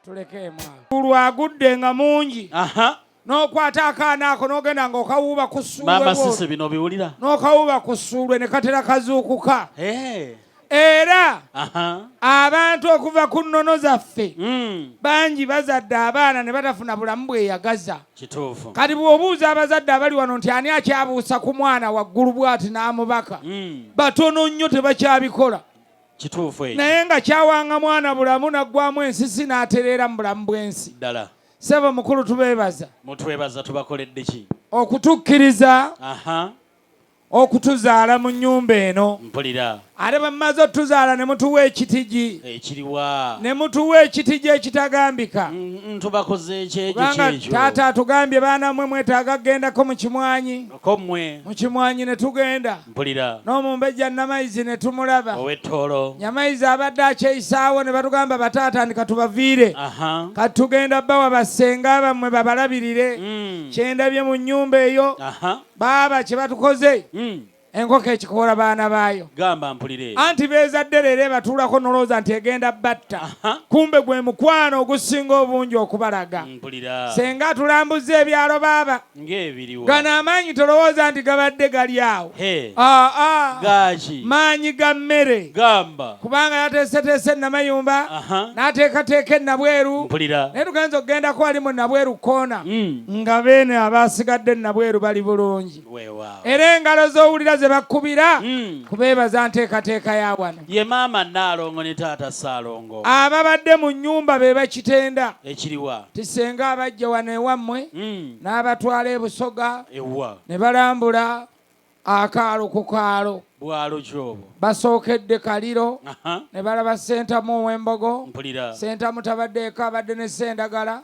tulekemagulu agudde nga mungi nokwata akaana ako nogenda nga okawuuba ku ssuulwe nokawuuba ku ssuulwe ne katera kazuukuka eh. era abantu okuva ku nnono zaffe hmm. bangi bazadde abaana ne batafuna bulamu bweyagaza kati bw'obuuza abazadde abali wano nti ani akyabuusa ku mwana waggulu bwati n'amubaka hmm. batono nnyo tebakyabikola kituufu ekyo naye nga kyawanga mwana bulamu naggwamu ensisi n'atereera mu bulamu bw'ensi ddala sebo mukulu tubeebaza mutwebaza tubakoledde ki okutukkiriza okutuzaala mu nnyumba eno mpulira ate bamaze otuzaala ne mutuwa ekitigi ekiriwa ne mutuwa ekitigi ekitagambika mm, mm, tubakoze ekyekyo taata atugambye baana mwe mwetaaga kugendako mu kimwanyi ko mmwe mu kimwanyi ne tugenda mpulira n'omumbejja Namayizi ne tumulaba ow'ettoolo Nyamayizi abadde akyeyisaawo ne batugamba bataatandika tubaviire kati tugenda bawa bassenga bammwe babalabirire mm. kyendabye mu nnyumba eyo baaba kye batukoze mm. enkoko ekikoola baana baayo gamba mpulire anti beezadde leero ebatuulako nolowooza nti egenda batta kumbe gwe mukwano ogusinga obungi okubalaga mm, mpulira senga atulambuzza ebyalo baaba gano amaanyi tolowooza nti gabadde gali awo ah, ah. maanyi ga mmere kubanga yateeseteese namayumba n'ateekateeka enabweru naye tugenza okugendako wali mu nabweru koona hmm. nga beene abasigadde nabweru bali bulungi era engalo z'owulira ze bakubira hmm. kubeebaza nteekateeka ya wano ye maama Nnaalongo ne taata Ssaalongo. Ababadde mu nnyumba be bakitenda. Ekiriwa? Nti ssenga abaggya wano ewammwe hmm. n'abatwala e Busoga ne balambula akaalo ku kaalo basookedde kaliro ne balaba sentamu owembogo sentamu tabaddeeko abadde ne sendagala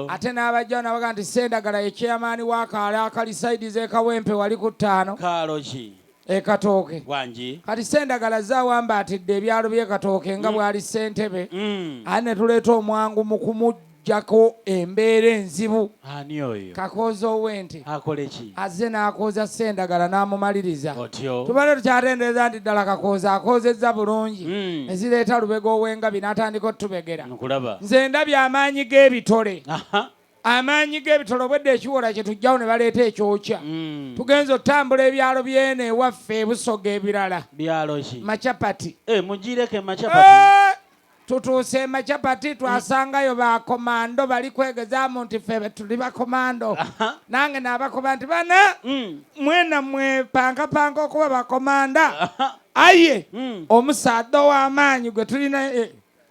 ate n'abajjawo nabaga nti sendagala ye chairman wakaalo akali saidi zekawempe wali ku ttaano ekatooke wangi kati sendagala zawamba atidde ebyalo byekatooke nga mm. bwali sentebe mm. ani netuleeta omwangu mu kumujjako embeera enzibu ani oyo kakooza owente akoleki azze n'akooza sendagala n'amumaliriza otyo tubale tukyatendereza nti ddala kakooza akoozezza bulungi mm. ne zireeta lubega ow'engabi n'atandika otubegera nkulaba nze ndabye amaanyi g'ebitole amaanyi g'ebitolo obwedda ekiwola kye tujjawo ne baleeta ekyokya mm. tugenza otutambula ebyalo byene ewaffe ebusoga ebirala byaloki macapati eh, mugireko emacapati eh, tutuuse emacapati twasangayo bakomando bali kwegezamu nti fe tuli bakomando nange nabakoba nti bana mm. mwena mwepangapanga okuba bakomanda aye mm. omusaadha ow'amaanyi gwe tulina eh,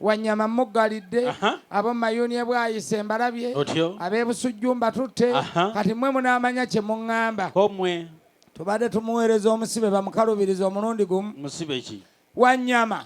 Wanyama muggalidde abo mayuuni ebwayise mbalabye ab'ebusujju mbatutte kati mwe munaamanya kye muŋŋamba tubadde tumuweereza omusibe bamukalubiriza omulundi gumu wanyama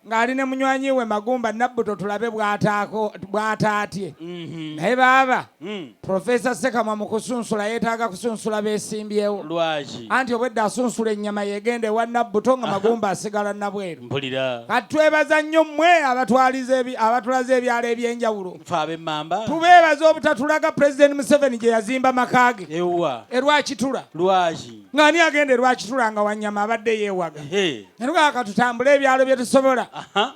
ng'ali ne munywanyi we magumba nabbuto tulabe bw'ataatye mhm. naye baaba Hmm. Profesa Sekama mu kusunsula yeetaaga kusunsula beesimbyewo. Lwaki? Anti obwedda asunsula ennyama yeegenda ewa Nabbuto nga magumba asigala nabweru. Mpulira. Kati twebaza nnyo mmwe abatwaliza abatulaze ebyalo eby'enjawulo. Ffe ab'emmamba. Tubeebaza obutatulaga Pulezidenti Museveni gye yazimba maka ge. Ewwa. E Rwakitula. Lwaki? nga ani agenda erwakitula nga wanyama abadde yewaga nanugaa katutambule ebyalo byetusobola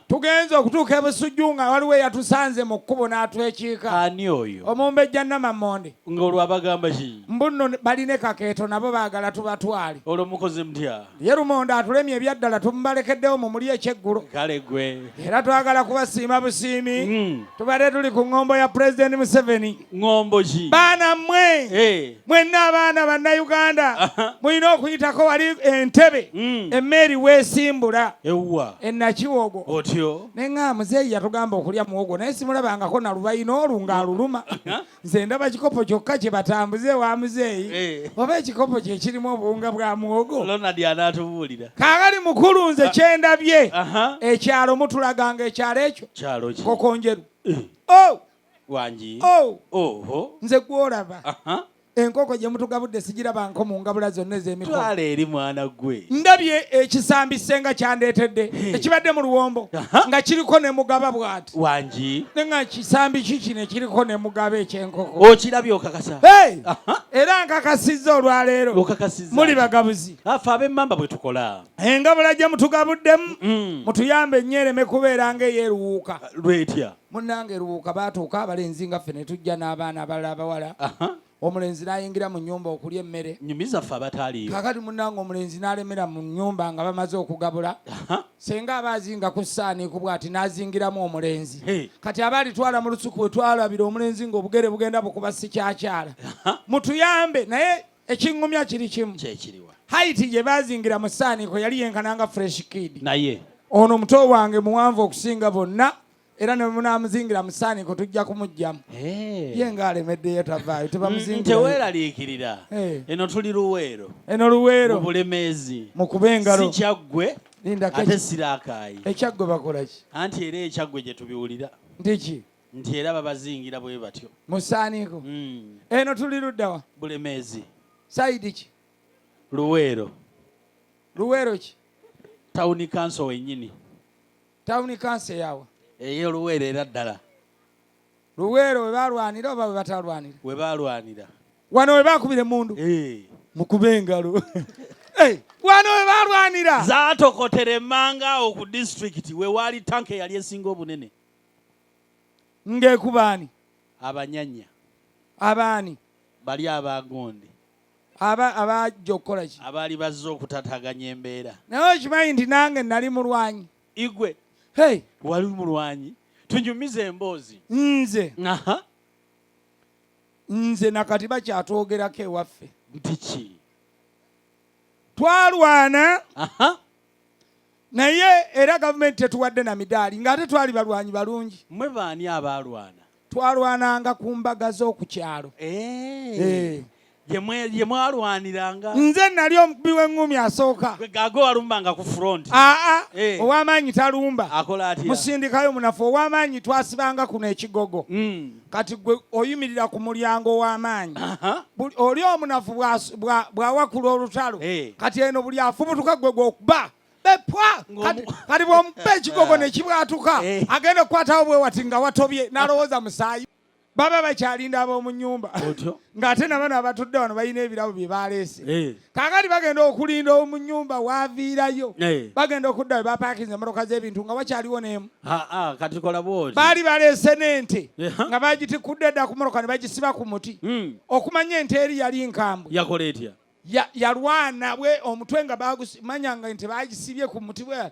tugenze okutuuka ebusujju nga waliwo eyatusanze mu kkubo n'atwekiika ani oyo omumbejja namamonde ngaolwabagamba ki mbunno baline kakeeto nabo baagala tubatwale olwo mukoze mutya ye lumonde atulemye ebyaddala tumubalekeddewo mu muli ekyeggulo kale gwe era twagala kubasiima busiimi hmm. tubadde tuli ku ŋŋombo ya pulezidenti museveni ŋŋombo ki baana mmwe mwenna abaana bannayuganda mulina okuyitako wali entebe hmm. emmeeri weesimbula enakiwogo otyo naye nga muzeeyi yatugamba okulya muwogo naye simulabangako nalubayina olwo ng'aluluma nze ndaba kikopo kyokka kye batambuze wa muzeeyi eh. oba ekikopo kye kirimu obuwunga bwa muwogo kaakali mukulu nze ah. kyendabye ekyalo mutulaganga ekyalo ekyo kokonjeru eh. oh! wangi oh! oho nze gwolaba enkoko gye mutugabudde sigirabanko mu ngabula zonna ez'emitwala eri mwana gwe ndabye ekisambi senga kyandeetedde ekibadde mu luwombo nga kiriko ne mugaba bwati wangi ne nga kisambi kiki ne kiriko ne mugaba ekyenkoko okirabye okakasa era nkakasizza olwaleero muli bagabuzi afe abemmamba bwe tukola engabula gye mutugabuddemu mutuyambe nnyo ereme kubeera nga eyeruwuuka lwetya munnange lubuuka baatuuka abalenzi nga ffe ne tujja n'abaana abalala abawala omulenzi n'ayingira mu nyumba okulya emmere nyumiza ffe abataaliyo kakati munnange omulenzi n'alemera mu nyumba nga bamaze okugabula senga aba azinga ku ssaani ku bwati n'azingiramu omulenzi kati aba alitwala mu lusuku we twalabira omulenzi ng'obugere bugenda bukuba sikyakyala mutuyambe naye ekiŋŋumya kiri kimu kyekiriwa haiti gye baazingira mu saaniiko yali yenkana nga fresh kid naye ono omuto wange muwanvu okusinga bonna era ne munaamuzingira mu saaniiko tujja kumugyamu eh. ye nga alemeddeyo tavaayo tebamuzingiratewelaliikirira eh. eno tuli luweero eno luweero mu bulemeezi mu kuba engalo si kyaggwe ate siraakaayi ekyaggwe bakolaki anti era ekyaggwe gye tubiwulira ndiki nti era babazingira bwe batyo mu ssaaniiko hmm. eno tuli luddawa bulemeezi sayidi ki luweero luweero ki tawuni kanso wennyini tawuni kanso eyawa eyo luweero era ddala luweero we balwanira oba we batalwanira we balwanira wano we bakubira emundu eh. mukube engalo wano we balwanira zaatokotera emmanga awo ku disitulikiti we waali tanka eyali esinga obunene ngekubaani abanyanya abaani bali abagonde aba abajja okukola ki abaali bazze okutataganya embeera naye okimanyi nti nange nali mulwanyi igwe hey. wali mulwanyi tunyumize emboozi nze Aha. nze nakati bakyatwogerako ewaffe nti ki twalwana Aha. naye era gavumenti tetuwadde na midaali ng'ate twali balwanyi balungi. Mwe baani abaalwana? Twalwananga ku mbaga z'oku kyalo. Eh. Eh. gye mwalwaniranga nze nali omukubi w'eŋŋumi asooka gaga walumbanga ku front aa eh. ow'amaanyi talumba musindikayo munafu ow'amaanyi twasibanga kuno ekigogo hmm. kati gwe oyimirira ku mulyango w'amaanyi oli omunafu bw'awakula olutalo eh. kati eno buli afubutuka gwe gwokuba bepwa kati bwomupa ekigogo ne kibwatuka eh. agenda okukwatawo bwe wati nga watobye n'alowooza musaayi baba bakyalinda ab'omu nnyumba ng'ate nabano abatudde wano balina ebirabo bye baleese eh. kakati bagenda okulinda omunyumba waviirayo eh. bagenda okudda webapakinze emotoka z'ebintu nga wakyaliwo neemu ah, ah, kati kola bwoti baali baleese n'ente eh, nga bagitikudde dda ku motoka ne bagisiba ku muti hmm. okumanya ente eri yali nkambwe yakola etya yalwana bwe omutwe nga bagumanya nga nti bagisibye ku muti bwe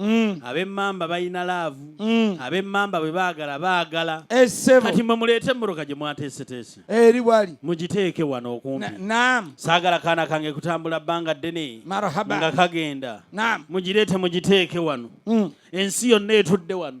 Mm. abemmamba balina laavu mm. abemmamba bwe baagala baagala kati mwe muleete emmotoka gye mwateeseteese eri wali mugiteeke wano okumpi saagala kaana kange kutambula bbanga ddene nga kagenda mugireete mugiteeke wano mm. ensi yonna etudde wano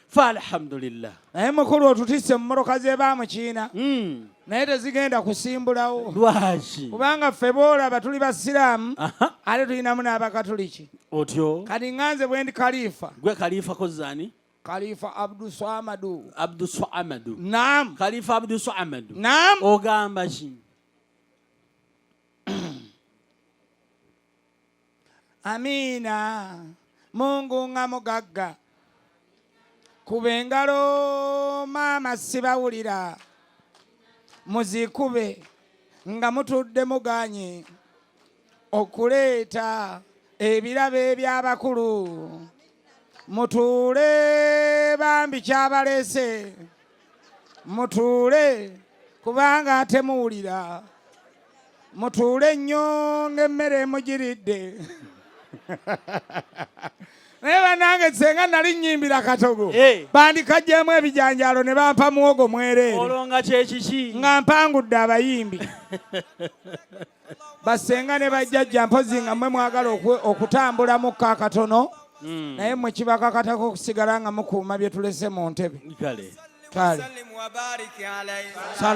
fa alhamdulillah naye mukulu otutisse mu mmotoka ze ba mukiina hmm. naye tezigenda kusimbulawo lwaki kubanga ffe boolaba tuli basiraamu ate tulinamu n'abakatuliki otyo kati nganze bwendi kalifa gwe kalifa kozani Khalifa Abdu Swamadu. Abdu Swamadu. Naam. Khalifa Abdu Swamadu. Naam. Ogamba ki? amiina mungu nga mugagga kuba engalo maama sibawulira muzikube nga mutudde muganye okuleeta ebirabo eby'abakulu mutuule bambi kyabaleese mutuule kubanga ate muwulira mutuule nnyo ng'emmere emugiridde naye banange senga nali nyimbira katogo eh. bandikagyemu ebijanjalo ne bampa muwogo mwereere nga mpangudde abayimbi basenga ne bajjajja mpozi nga mwe mwagala okutambula mukko akatono hmm. naye mwe kibakakatako okusigala nga mukuuma bye tulese mu ntebe kale